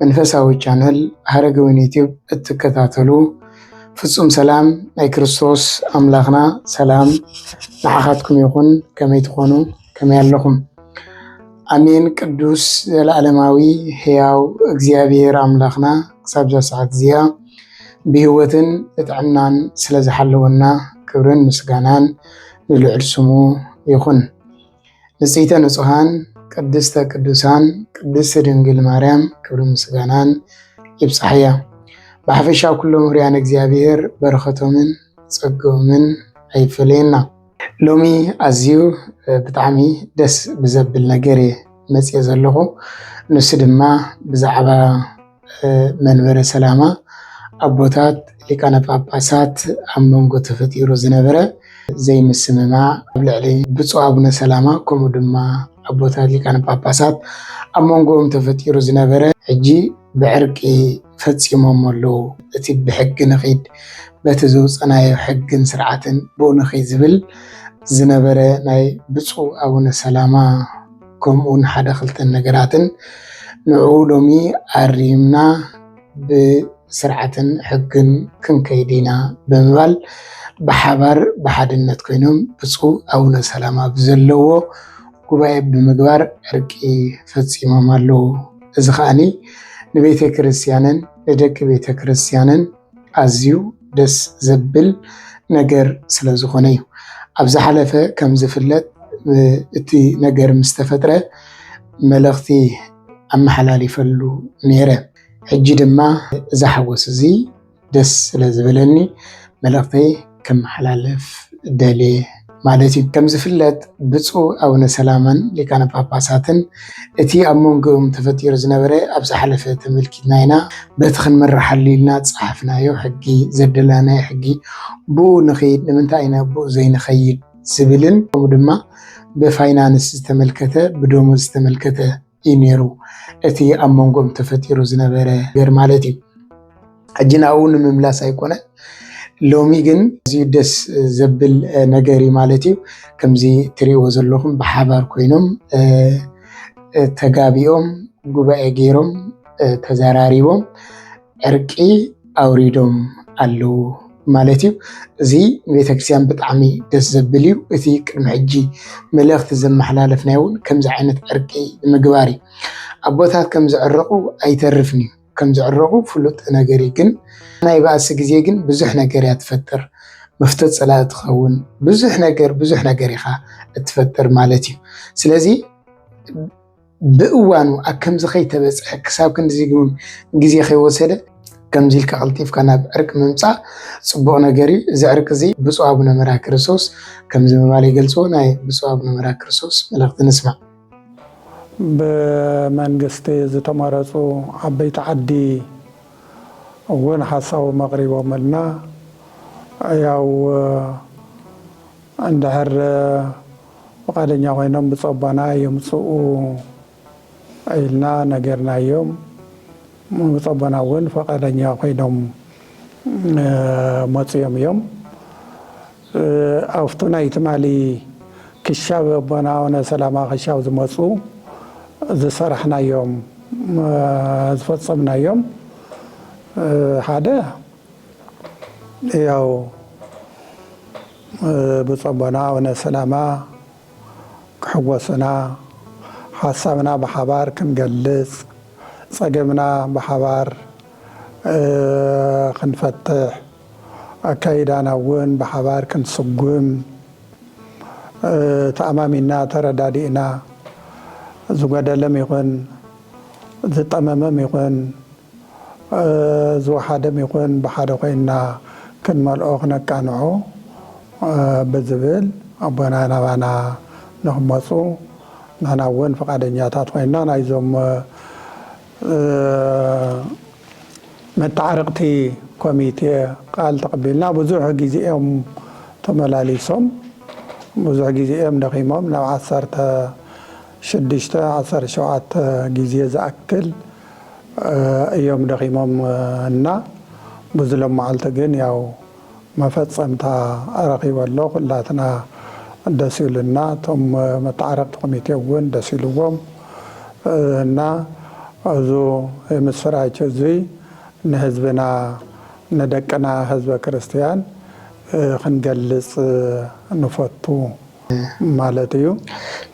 መንፈሳዊ ቻነል ሐረገ ወይን ዩቲዩብ እትከታተሉ ፍጹም ሰላም ናይ ክርስቶስ ኣምላኽና ሰላም ንዓኻትኩም ይኹን። ከመይ ትኾኑ? ከመይ ኣለኹም? ኣሜን። ቅዱስ ዘለዓለማዊ ሕያው እግዚኣብሔር ኣምላኽና ክሳብ እዛ ሰዓት እዚኣ ብህይወትን ብጥዕናን ስለ ዝሓለወና ክብርን ምስጋናን ንልዑል ስሙ ይኹን። ንጽሕተ ንጹሃን ቅድስተ ቅዱሳን ቅድስቲ ድንግል ማርያም ክብሪ ምስጋናን ይብጻሕያ። ብሓፈሻ ኩሎም ውርያን እግዚኣብሔር በረኸቶምን ጸገኦምን ኣይፈለየና። ሎሚ ኣዝዩ ብጣዕሚ ደስ ብዘብል ነገር እየ መጽየ ዘለኹ ንሱ ድማ ብዛዕባ መንበረ ሰላማ ኣቦታት ሊቃነ ጳጳሳት ኣብ መንጎ ተፈጢሩ ዝነበረ ዘይምስምማዕ ኣብ ልዕሊ ብፁዕ ኣቡነ ሰላማ ከምኡ ድማ ኣቦታት ሊቃነ ጳጳሳት ኣብ መንጎኦም ተፈጢሩ ዝነበረ ሕጂ ብዕርቂ ፈፂሞሞ ኣለዉ። እቲ ብሕጊ ንኺድ በቲ ዘውፀናዮ ሕግን ስርዓትን ብኡ ንኺድ ዝብል ዝነበረ ናይ ብፁዕ ኣቡነ ሰላማ ከምኡውን ሓደ ክልተ ነገራትን ንዕኡ ሎሚ ኣሪምና ብስርዓትን ሕግን ክንከይድ ኢና ብምባል ብሓባር ብሓድነት ኮይኖም ብፁዕ ኣቡነ ሰላማ ብዘለዎ ጉባኤ ብምግባር ዕርቂ ፈፂሞም ኣለዉ። እዚ ከዓኒ ንቤተ ክርስቲያንን ንደቂ ቤተ ክርስቲያንን ኣዝዩ ደስ ዘብል ነገር ስለ ዝኾነ እዩ። ኣብ ዝሓለፈ ከም ዝፍለጥ እቲ ነገር ምስ ተፈጥረ መልእኽቲ ኣመሓላሊፈሉ ነይረ። ሕጂ ድማ እዚ ሓጎስ እዚ ደስ ስለ ዝበለኒ መልእኽተይ ከመሓላልፍ ደልየ ማለት እዩ። ከም ዝፍለጥ ብፁዕ ኣቡነ ሰላማን ሊቃነ ጳጳሳትን እቲ ኣብ መንጎኦም ተፈጢሩ ዝነበረ ኣብ ዝሓለፈ ተመልኪትና ኢና በቲ ክንምርሓሉ ኢልና ዝጸሓፍናዮ ሕጊ ዘደላናዮ ሕጊ ብኡ ንኽይድ ንምንታይ ኢና ብኡ ዘይንኸይድ ዝብልን ከምኡ ድማ ብፋይናንስ ዝተመልከተ ብደሞዝ ዝተመልከተ እዩ ነይሩ እቲ ኣብ መንጎም ተፈጢሩ ዝነበረ ነገር ማለት እዩ። ሕጂ ናብኡ ንምምላስ ኣይኮነ ሎሚ ግን እዚዩ ደስ ዘብል ነገር እዩ ማለት እዩ። ከምዚ ትሪእዎ ዘለኹም ብሓባር ኮይኖም ተጋቢኦም ጉባኤ ገይሮም ተዘራሪቦም ዕርቂ ኣውሪዶም ኣለዉ ማለት እዩ። እዚ ቤተክርስትያን ብጣዕሚ ደስ ዘብል እዩ። እቲ ቅድሚ ሕጂ መልእኽቲ ዘመሓላለፍናዮ እውን ከምዚ ዓይነት ዕርቂ ምግባር እዩ። ኣቦታት ከም ዝዕረቑ ኣይተርፍን እዩ፣ ከም ዝዕረቑ ፍሉጥ ነገር እዩ። ግን ናይ ባእሲ ግዜ ግን ብዙሕ ነገር እያ ትፈጥር። መፍቶ ፀላኢ ትኸውን፣ ብዙሕ ነገር ብዙሕ ነገር ኢኻ እትፈጥር ማለት እዩ። ስለዚ ብእዋኑ ኣብ ከምዚ ከይተበፅሐ ክሳብ ክንድዚ ግን ግዜ ከይወሰደ ከምዚ ኢልካ ቀልጢፍካ ናብ ዕርቂ ምምፃእ ፅቡቕ ነገር እዩ። እዚ ዕርቂ እዚ ብፁዕ ኣቡነ መርሃ ክርስቶስ ከምዚ ምባል ይገልፅዎ። ናይ ብፁዕ ኣቡነ መርሃ ክርስቶስ መልእኽቲ ንስማዕ። ብመንግስቲ ዝተመረፁ ዓበይቲ ዓዲ እውን ሓሳቦም ኣቕሪቦምልና። ያው እንድሕር ፍቓደኛ ኮይኖም ብፆባና የምፅኡ ኢልና ነጊርናዮም። ብፆባና እውን ፍቓደኛ ኮይኖም መፂኦም እዮም። ኣብቲ ናይ ትማሊ ክሻብ ኣቦና ኣውነ ሰላማ ክሻብ ዝመፁ ዝሰራሕናዮም ዝፈፀምናዮም ሓደ ያው ብፁዕ ኣቦና ኣቡነ ሰላማ ክሕጎሱና፣ ሓሳብና ብሓባር ክንገልጽ፣ ጸገምና ብሓባር ክንፈትሕ፣ ኣካይዳና እውን ብሓባር ክንስጉም፣ ተኣማሚንና ተረዳዲእና ዝጎደለም ይኹን ዝጠመመም ይኹን፣ ዝወሓደም ይኹን ብሓደ ኮይንና ክንመልኦ ክነቃንዖ ብዝብል ኣቦና ናባና ንክመፁ ንሕና እውን ፍቓደኛታት ኮይንና ናይዞም መተዓረቕቲ ኮሚቴ ቃል ተቐቢልና ብዙሕ ግዜ እዮም ተመላሊሶም ብዙሕ ግዜ እዮም ደኺሞም ናብ ዓሰርተ ሽዱሽተ ዓሰርተ ሸውዓተ ግዜ ዝኣክል እዮም ደኺሞም እና ብዙ ሎማዓልቲ ግን ያው መፈፀምታ ረኺበ ኣሎ ኹላትና ደስ ኢሉና እቶም መታዓረቅቲ ኮሚቴ እውን ደስ ኢልዎም እና እዙ የምስራች እዙይ ንህዝብና ንደቅና ህዝበ ክርስትያን ኽንገልፅ ንፈቱ ማለት እዩ።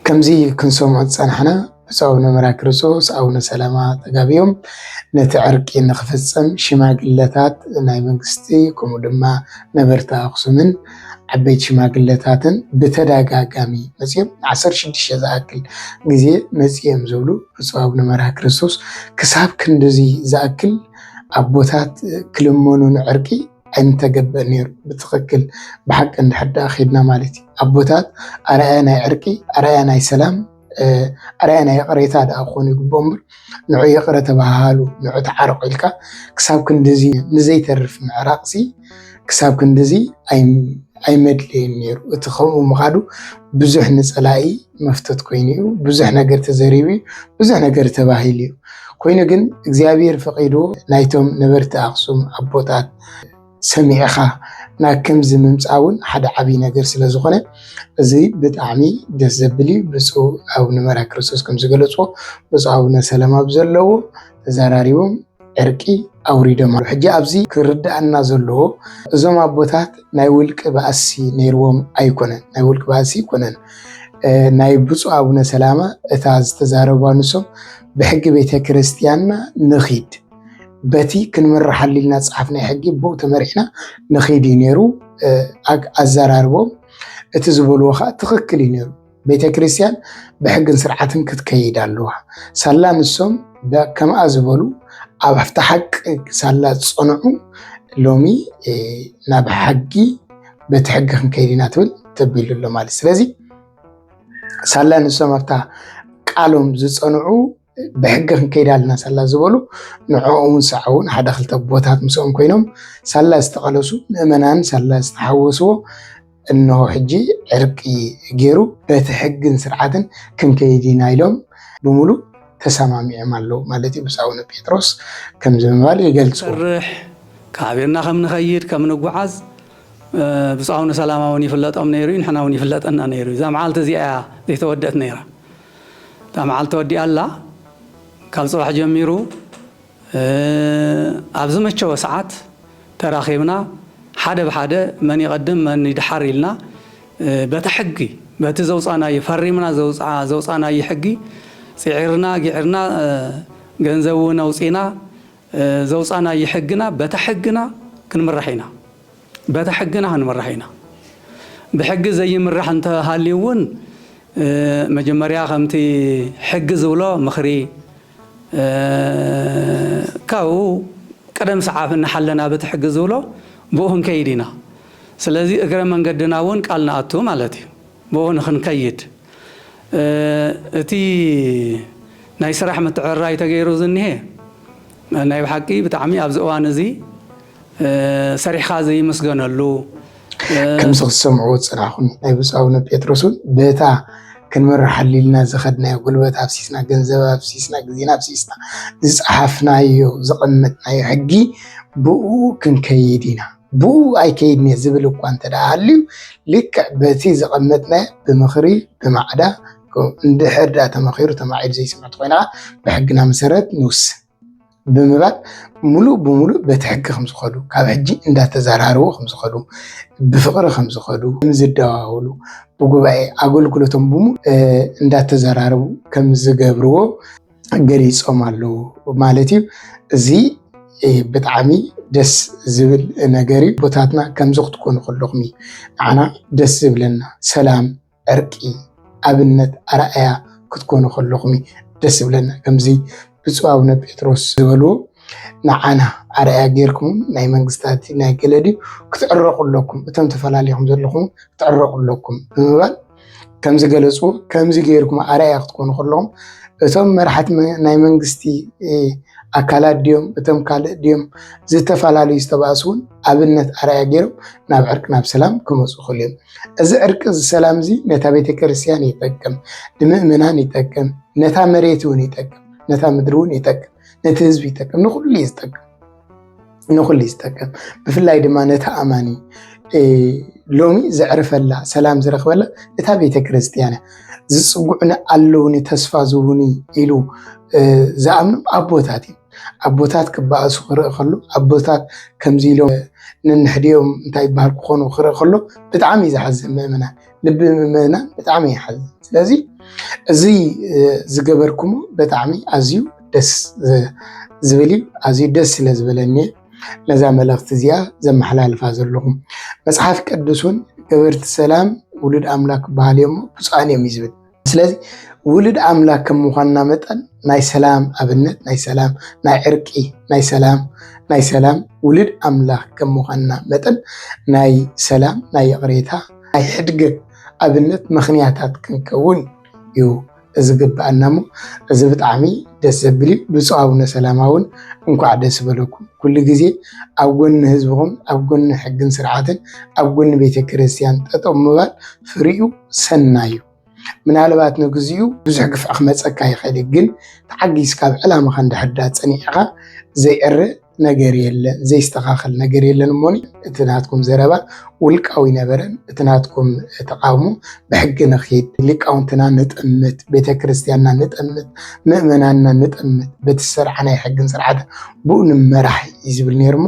ከምዙይ ክንሰምዖ ዝፀናሕና ብፁዕ ኣቡነ መራክርስዎስ ኣቡነ ሰላማ ተጋቢኦም ነቲ ዕርቂ ንክፍፀም ሽማግለታት ናይ መንግስቲ ከምኡ ድማ ነበርቲ ኣክሱምን ዓበይቲ ሽማግለታትን ብተደጋጋሚ መፅኦም ዓሰርተ ሽዱሽተ ዝኣክል ግዜ መፅኦም ዝብሉ ብፁዕ ኣቡነ መርሃ ክርስቶስ ክሳብ ክንድዚ ዝኣክል ኣቦታት ክልመኑ ንዕርቂ ኣይምተገበእ ነይሩ ብትክክል ብሓቂ እንድሕር ዳኣ ከድና ማለት እዩ ኣቦታት ኣርኣያ ናይ ዕርቂ ኣርኣያ ናይ ሰላም ኣርኣያ ናይ ይቕሬታ ድኣ ክኾኑ ይግብኦ እምበር ንዑ ይቕረ ተባሃሉ ንዑ ተዓረቑ ኢልካ ክሳብ ክንድዚ ንዘይተርፍ ምዕራቕሲ ክሳብ ክንድዚ ኣይመድለየን ነይሩ እቲ ከምኡ ምኻዱ ብዙሕ ንፀላኢ መፍተት ኮይኑ እዩ ብዙሕ ነገር ተዘሪቡ እዩ ብዙሕ ነገር ተባሂሉ እዩ ኮይኑ ግን እግዚኣብሔር ፈቂዱ ናይቶም ነበርቲ ኣክሱም ኣቦታት ሰሚዕኻ ናብ ከምዚ ምምፃእ እውን ሓደ ዓብይ ነገር ስለዝኾነ እዚ ብጣዕሚ ደስ ዘብል እዩ። ብፁዕ ኣቡነ መርሃ ክርስቶስ ከም ዝገለፅዎ ብፁዕ ኣቡነ ሰላማ ብዘለዎ ተዘራሪቦም ዕርቂ ኣውሪዶም ኣሎ። ሕጂ ኣብዚ ክርዳኣና ዘለዎ እዞም ኣቦታት ናይ ውልቂ ባእሲ ነይርዎም ኣይኮነን፣ ናይ ውልቂ ባእሲ ኣይኮነን። ናይ ብፁዕ ኣቡነ ሰላማ እታ ዝተዛረብዋ ንሶም ብሕጊ ቤተ ክርስቲያንና ንኺድ በቲ ክንምርሓሉ ኢልና ዝፀሓፍናዮ ሕጊ ብኡ ተመሪሕና ንኸይድ እዩ ነይሩ። ኣዘራርቦም እቲ ዝበልዎ ከዓ ትኽክል እዩ ነይሩ። ቤተ ክርስቲያን ብሕግን ስርዓትን ክትከይድ ኣለዋ። ሳላ ንሶም ከምኣ ዝበሉ ኣብ ኣብቲ ሓቂ ሳላ ዝፀንዑ ሎሚ ናብ ሕጊ በቲ ሕጊ ክንከይድ ኢና ትብል ተቢሉ ኣሎ ማለት ስለዚ ሳላ ንሶም ኣብታ ቃሎም ዝፀንዑ ብሕጊ ክንከይድ ኣለና ሳላ ዝበሉ ንዕኦውን ሰዓውን ሓደ ክልተ ኣቦታት ምስኦም ኮይኖም ሳላ ዝተቐለሱ ምእመናን ሳላ ዝተሓወስዎ እነሆ ሕጂ ዕርቂ ገይሩ በቲ ሕግን ስርዓትን ክንከይድ ኢና ኢሎም ብምሉእ ተሰማሚዖም ኣለዉ ማለት እዩ ብፁዕ ኣቡነ ጴጥሮስ ከምዚ ምባል ይገልጹ ሰርሕ ካበና ከም ንኸይድ ከም ንጓዓዝ ብፁዕ ኣቡነ ሰላማ እውን ይፍለጦም ነይሩ እዩ ንሕና እውን ይፍለጠና ነይሩ እዩ እዛ መዓልቲ እዚኣ እያ ዘይተወደት ነይራ እታ መዓልቲ ተወዲኣ ኣላ ካብ ጽባሕ ጀሚሩ ኣብ ዝመቸወ ሰዓት ተራኺብና ሓደ ብሓደ መን ይቐድም መን ይድሓር ኢልና በታ ሕጊ በቲ ዘውጻናዮ ፈሪምና ዘውጻናዮ ሕጊ ጽዒርና ጊዕርና ገንዘብ እውን ኣውጺና ዘውጻናዮ ሕግና በታ ሕግና ክንምራሕ ኢና። በታ ሕግና ክንምራሕ ኢና። ብሕጊ ዘይምራሕ እንተ ሃልዩ እውን መጀመርያ ከምቲ ሕጊ ዝብሎ ምኽሪ ካብኡ ቅደም ሰዓብ እናሓለና በቲ ሕጊ ዝብሎ ብኡ ክንከይድ ኢና። ስለዚ እግረ መንገድና እውን ቃል ንኣቱ ማለት እዩ። ብኡ ንክንከይድ። እቲ ናይ ስራሕ ምትዕርራይ ተገይሩ ዝኒሀ ናይ ብሓቂ ብጣዕሚ ኣብዚ እዋን እዚ ሰሪሕኻ ዘይምስገነሉ፣ ከምዚ ክትሰምዕዎ ዝጸናሕኩን ናይ ብፁዕ ኣቡነ ጴጥሮስ እውን በታ ክንምርሓሉ ኢልና ዝኸድናዮ ጉልበት ኣፍሲስና፣ ገንዘብ ኣፍሲስና፣ ግዜና ኣፍሲስና ዝጸሓፍናዮ ዘቐመጥናዮ ሕጊ ብእኡ ክንከይድ ኢና። ብኡ ኣይከይድን እየ ዝብል እኳ እንተደኣ ሃልዩ ልክዕ በቲ ዘቐመጥናዮ ብምኽሪ ብማዕዳ እንድሕር ደኣ ተመኺሩ ተማዒዱ ዘይስምዕ እንተኾይና ብሕግና መሰረት ንውስን ብምባል ሙሉእ ብሙሉእ በቲ ሕጊ ከም ዝኸዱ ካብ ሕጂ እንዳተዘራረቡ ከም ዝኸዱ ብፍቕሪ ከም ዝኸዱ ከም ዝደዋወሉ ብጉባኤ ኣገልግሎቶም ብሙሉእ እንዳተዘራረቡ ከም ዝገብርዎ ገሊፆም ኣለዉ ማለት እዩ። እዚ ብጣዕሚ ደስ ዝብል ነገር እዩ። ቦታትና ከምዚ ክትኮኑ ከለኹም እዩ ንዓና ደስ ዝብለና ሰላም፣ ዕርቂ፣ ኣብነት፣ ኣርኣያ ክትኮኑ ከለኹም እዩ ደስ ዝብለና ከምዚ ብፁዕ ኣቡነ ጴጥሮስ ዝበልዎ ንዓና ኣርኣያ ጌርኩም ናይ መንግስታት ናይ ገለ ድዩ ክትዕረቑ ኣለኩም እቶም ተፈላለኹም ዘለኹም ክትዕረቑ ኣለኩም ብምባል ከም ዝገለፅዎ ከምዚ ገይርኩም ኣርኣያ ክትኮኑ ከለኹም እቶም መራሕቲ ናይ መንግስቲ ኣካላት ድዮም እቶም ካልእ ድዮም ዝተፈላለዩ ዝተባእሱ እውን ኣብነት ኣርኣያ ገይሮም ናብ ዕርቂ ናብ ሰላም ክመፁ ይኽእሉ እዮም። እዚ ዕርቂ እዚ ሰላም እዚ ነታ ቤተክርስትያን ይጠቅም፣ ንምእመናን ይጠቅም፣ ነታ መሬት እውን ይጠቅም፣ ነታ ምድሪ እውን ይጠቅም፣ ነቲ ህዝቢ ይጠቅም፣ ንኩሉ እዩ ዝጠቅም። ንኹሉ ዝጠቅም ብፍላይ ድማ ነቲ ኣማኒ ሎሚ ዘዕርፈላ ሰላም ዝረኽበላ እታ ቤተ ክርስቲያን ዝፅጉዕኒ ኣለውኒ ተስፋ ዝውኒ ኢሉ ዝኣምኑ ኣቦታት እዩ ኣቦታት ክበኣሱ ክርኢ ከሎ ኣቦታት ከምዚ ኢሎም ነንሕዲኦም እንታይ ይበሃል ክኾኑ ክርኢ ከሎ ብጣዕሚ እዩ ዝሓዝን ምእመናን ልቢ ምምእናን ብጣዕሚ ይሓዝን። ስለዚ እዚ ዝገበርኩሞ ብጣዕሚ ኣዝዩ ደስ ዝብል እዩ። ኣዝዩ ደስ ስለ ዝበለኒ ነዛ መልእኽቲ እዚኣ ዘመሓላልፋ ዘለኹ። መፅሓፍ ቅዱስ እውን ገበርቲ ሰላም ውሉድ ኣምላክ ክበሃል እዮሞ ብፁዓን እዮም እዩ ዝብል። ስለዚ ውሉድ ኣምላክ ከም ምዃንና መጠን ናይ ሰላም ኣብነት ናይ ሰላም ናይ ዕርቂ ናይ ሰላም ናይ ሰላም ውሉድ ኣምላክ ከም ምዃንና መጠን ናይ ሰላም ናይ ይቕሬታ ናይ ሕድገት ኣብነት ምኽንያታት ክንከውን እዩ ዝግብኣና እሞ እዚ ብጣዕሚ ደስ ዘብል እዩ። ብፁዕ ኣቡነ ሰላማ እውን እንኳዕ ደስ በለኩም። ኩሉ ግዜ ኣብ ጎኒ ህዝብኹም፣ ኣብ ጎኒ ሕግን ስርዓትን፣ ኣብ ጎኒ ቤተ ክርስቲያን ጠጠው ምባል ፍሪኡ ሰናዩ ምናልባት ንግዚኡ ብዙሕ ግፍዒ ክመፀካ ይኽእል እዩ ግን ተዓጊስካ ኣብ ዕላማኻ እንድሕር ዳ ፀኒዕኻ ዘይዕረ ነገር የለን ዘይስተኻኸል ነገር የለን እሞኒ እቲ ናትኩም ዘረባ ውልቃዊ ነበረን እቲ ናትኩም ተቃውሞ ብሕጊ ንኺድ ሊቃውንትና ንጠምት ቤተ ክርስቲያንና ንጠምት ምእመናንና ንጠምት በቲ ዝሰርዓ ናይ ሕግን ስርዓትን ብኡ ንመራሕ እዩ ዝብል ነይርሞ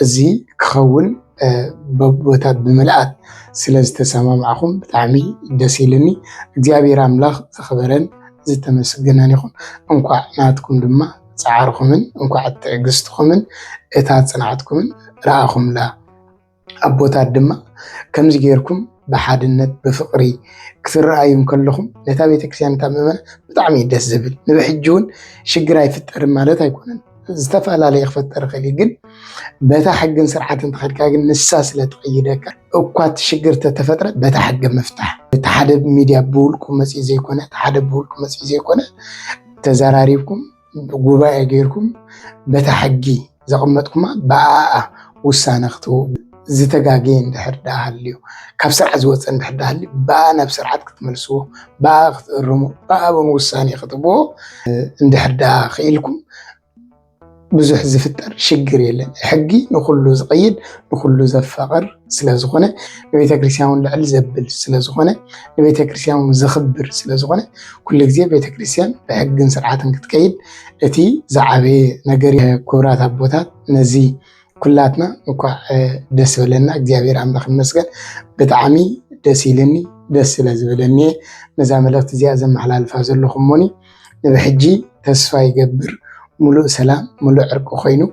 እዚ ክኸውን በቦታት ብምልኣት ስለ ዝተሰማማዕኹም ብጣዕሚ ደስ ኢልኒ። እግዚኣብሔር ኣምላኽ ዝኸበረን ዝተመስገነን ይኹን። እንኳዕ ናትኩም ድማ ፃዕርኹምን እንኳዕ ትዕግስትኹምን እታ ፅንዓትኩምን ረኣኹምላ። ኣቦታት ድማ ከምዚ ጌርኩም ብሓድነት ብፍቕሪ ክትረኣዩ ከለኹም ነታ ቤተክርስትያን እታ ምእመናን ብጣዕሚ ደስ ዝብል ንብሕጂ እውን ሽግር ኣይፍጠርን ማለት ኣይኮነን። ዝተፈላለየ ክፈጠር ይኽእል እዩ ግን በታ ሕግን ስርዓትን ተኸድካ ግን ንሳ ስለ ትቕይደካ እኳ እቲ ሽግር ተተፈጥረ በታ ሕጊ ምፍታሕ እቲ ሓደ ሚድያ ብውልቁ መፅኡ ዘይኮነ እቲ ሓደ ብውልቁ መፅኡ ዘይኮነ ተዘራሪብኩም ጉባኤ ገይርኩም በታ ሕጊ ዘቐመጥኩማ ብኣኣ ውሳነ ክትህቡ ዝተጋገየ እንድሕር ደኣ ሃልዩ ካብ ስርዓት ዝወፀ እንድሕር ደኣ ሃልዩ ብኣ ናብ ስርዓት ክትመልስዎ ብኣ ክትእርሙ ብኣ እውን ውሳኔ ክትህብዎ እንድሕር ደኣ ክኢልኩም ብዙሕ ዝፍጠር ሽግር የለን። ሕጊ ንኩሉ ዝቐይድ ንኩሉ ዘፋቕር ስለዝኾነ ንቤተ ክርስቲያን ልዕል ዘብል ስለዝኾነ ንቤተ ክርስቲያን ዘኽብር ስለዝኾነ ኩሉ ግዜ ቤተ ክርስቲያን ብሕግን ስርዓትን ክትከይድ እቲ ዝዓበየ ነገር ክብራት ኣቦታት ነዚ ኩላትና እንኳዕ ደስ በለና እግዚኣብሔር ኣምላኽ ይመስገን ብጣዕሚ ደስ ኢልኒ ደስ ስለ ዝበለኒ እየ ነዛ መልእኽቲ እዚኣ ዘመሓላልፋ ዘለኹ እሞኒ ንብሕጂ ተስፋ ይገብር ሙሉእ ሰላም ሙሉእ ዕርቂ ኮይኑ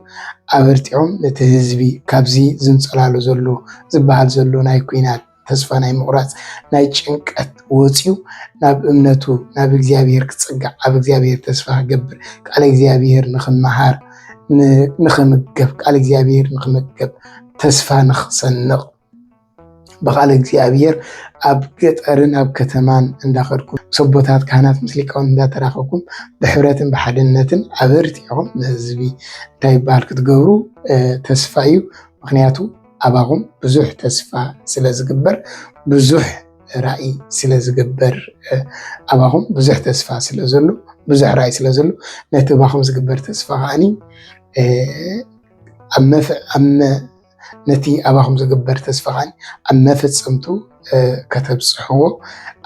ኣበርቲዖም ነቲ ህዝቢ ካብዚ ዝንፀላሉ ዘሎ ዝበሃል ዘሎ ናይ ኩናት ተስፋ ናይ ምቑራፅ ናይ ጭንቀት ወፂኡ ናብ እምነቱ ናብ እግዚኣብሔር ክፅጋዕ ኣብ እግዚኣብሔር ተስፋ ክገብር ቃል እግዚኣብሔር ንክመሃር ንክምገብ ቃል እግዚኣብሔር ንክመገብ ተስፋ ንክሰንቕ ብቃል እግዚኣብሔር ኣብ ገጠርን ኣብ ከተማን እንዳኸድኩም ምስ ኣቦታት ካህናት ምስ ሊቃውን እንዳተራኸብኩም ብሕብረትን ብሓድነትን ኣበርቲዕኹም ንህዝቢ እንታይ ይበሃል ክትገብሩ ተስፋ እዩ ምክንያቱ ኣባኹም ብዙሕ ተስፋ ስለ ዝግበር ብዙሕ ራእይ ስለ ዝግበር ኣባኹም ብዙሕ ተስፋ ስለ ዘሎ ብዙሕ ራእይ ስለ ዘሎ ነቲ ኣባኹም ዝግበር ተስፋ ከዓኒ ነቲ ኣባኹም ዝግበር ተስፋ ከዓኒ ኣብ መፈፀምቱ ከተብፅሕዎ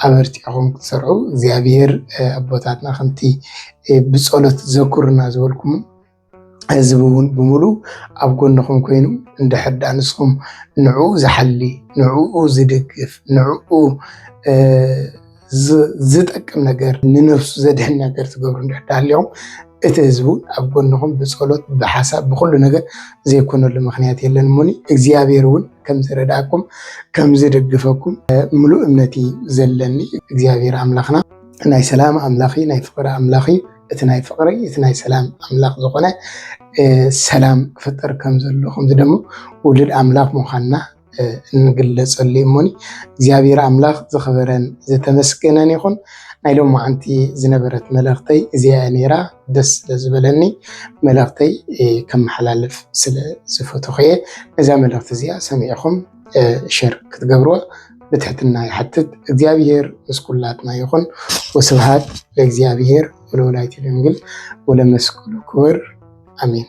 ኣበርቲዕኹም ክትሰርዑ እግዚኣብሔር ኣቦታትና ከምቲ ብፀሎት ዘኩርና ዝበልኩም ህዝቢ እውን ብምሉ ኣብ ጎንኹም ኮይኑ እንድሕር ዳ ንስኹም ንዕኡ ዝሓሊ ንዕኡ ዝድግፍ ንዕኡ ዝጠቅም ነገር ንነፍሱ ዘድሕን ነገር ትገብሩ እንድሕር ሃሊኹም እቲ ህዝቢ እውን ኣብ ጎንኹም ብፀሎት ብሓሳብ ብኩሉ ነገር ዘይኮነሉ ምክንያት የለን እሞኒ እግዚኣብሔር እውን ከምዝረዳእኩም ከምዝደግፈኩም ምሉእ እምነት ዘለኒ እግዚኣብሔር ኣምላኽና ናይ ሰላም ኣምላኽ ናይ ፍቅሪ ኣምላኽ እቲ ናይ ፍቕሪ እቲ ናይ ሰላም ኣምላኽ ዝኾነ ሰላም ክፍጠር ከም ዘሎ ከምዚ ደሞ ውሉድ ኣምላኽ ምዃንና እንግለጸሉ እዩ እሞኒ እግዚኣብሔር ኣምላኽ ዝኽበረን ዝተመስገነን ይኹን። ናይ ሎም መዓንቲ ዝነበረት መልእኽተይ እዚኣ ነይራ ደስ ስለ ዝበለኒ መልእኽተይ ከመሓላልፍ ስለ ዝፈተኹ እየ ነዛ መልእኽቲ እዚኣ ሰሚዕኹም ሸር ክትገብርዎ ብትሕትና ይሓትት። እግዚኣብሔር ምስ ኩላትና ይኹን። ወስብሃት ለእግዚኣብሔር ወለወላዲቱ ድንግል ወለመስቀሉ ክቡር አሜን።